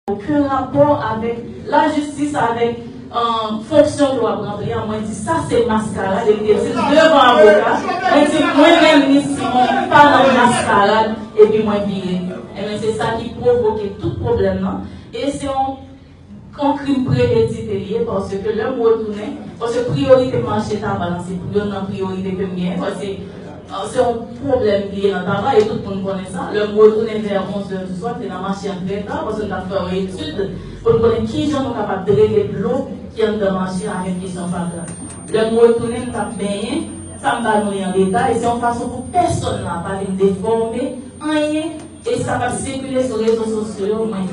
Oken rapò avèk la jistis avèk fonksyon ke wap ranpli an mwen di sa se maskarad e li te dil devan avoka mwen di mwen menm ni Simon pa nan maskarad epi mwen vire enben se sa ki pwovoke tout pwoblèm nan e se yon yon krim premedite li ye paske lèm retounen paske priyorite mache tabac lan se youn nan priyorite kem genyen paske Se yon pwoblèm ki ye nan Taba e tout moun konnen sa. Lè m retounen vè 11 zè di swa, m te nan mache an trè ta paske m t ap fè yon etid pou m konnen ki jan nou kapab drene dlo ki anndan mache a avèk kesyon fatra. Lè m retounen, m t ap benyen. Sa m ba nou li an detay, se yon fason pou pèsonn la pa vin defòme anyen e sa k ap sikile sou rezo sosyo yo. Mwen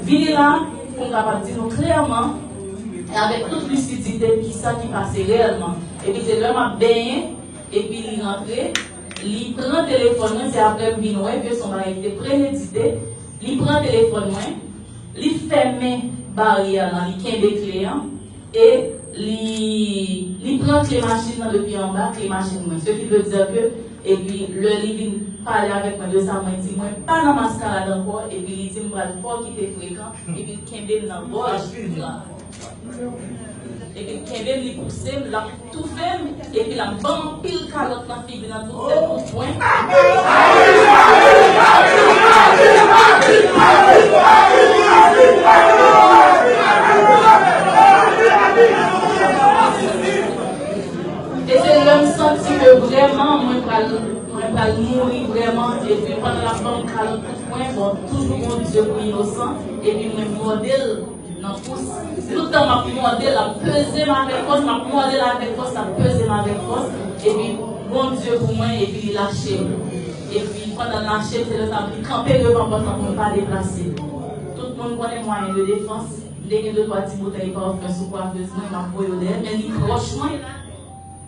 vini la pou m kapab di nou klèman e avèk tout lisidite ki sa ki pase reyèlman. Epi se lè m ap benyen. Epi li rantre, li pran telefòn mwen, se aprè m vin wè ke son bagay ki te premedite, li pran telefòn mwen, li fèmen baryè lan, li kenbe kle an, e li li pran kle machin lan depi anba kle machin mwen, ce qui veut dire que epi lè li vin pale avèk mwen de sa mwen di, mwen pa nan maskarad ankò, epi li di m pral fò ki te frekan, epi l kenbe m nan gòj. Epi l kenbe m li pouse m, l ap toufe m, epi l ap ban m anpil kalòt nan figi nan tout sèt kout pwen. E se lè m santi ke vrèman mwen pral mwen pral mouri vrèman epi pandan l ap ban m kalòt kout pwen bon toujou Bondye pou inosan epi mwen mòde l nan kous tout tan map mòdel lap pezem avèk fòs map mòdel avèk fòs lap pezem avèk fòs epi Bondye pou mwen epi li lachem epi pandanl lachem se lèsa vin kanpe devan pòt lan poum pa deplase tout moun konnen mwayen de defans mte gen de twa ti boutèy parfum sou coiffeuse mwen map voye yo dèyèl men li pwòch mwen.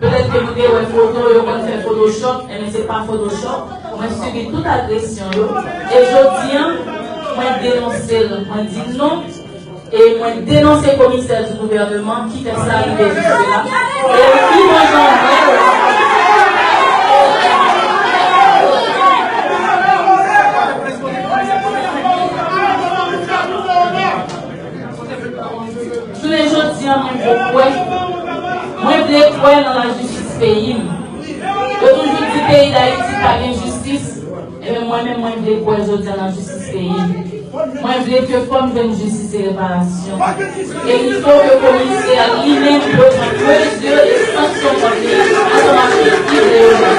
Petèt ke nou te wè foto yo konn fè photoshop enben se pa photoshop mwen sibi tout agresyon yo e jodia mwen denonse l mwen di non e mwen denonse komisè du gouvernement ki fè sa rive jiske la e pi bon jan m wè l Jounen jodi an mwen vle kwè, mwen vle kwè nan la jistis peyi m. Yo toujou di peyi Dayiti pa gen jistis, enben mwen menm mwen vle kwè jodi an nan jistis peyi m. Mwen vle ke fò m jwenn jistis e reparasyon. E li fò ke komisè a li menm dwe pran mezi e sanksyon kont li ansanm ak tout ki vle yo menm.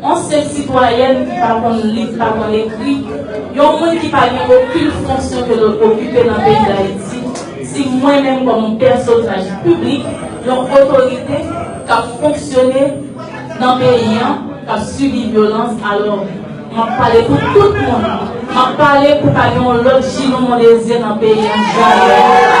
Yon senp sitwayèn ki pa konn li, ki pa konn ekri, yon moun ki pa gen okin fonksyon ke l okipe nan peyi Dayiti, si mwen menm kòm yon pèsonaj piblik, yon otorite k ap fonksyone nan peyi an, k ap sibi vyolans, alò m ap pale pou tout moun, m ap pale pou pa gen yon lòt Gilou Mondésir nan peyi an janm.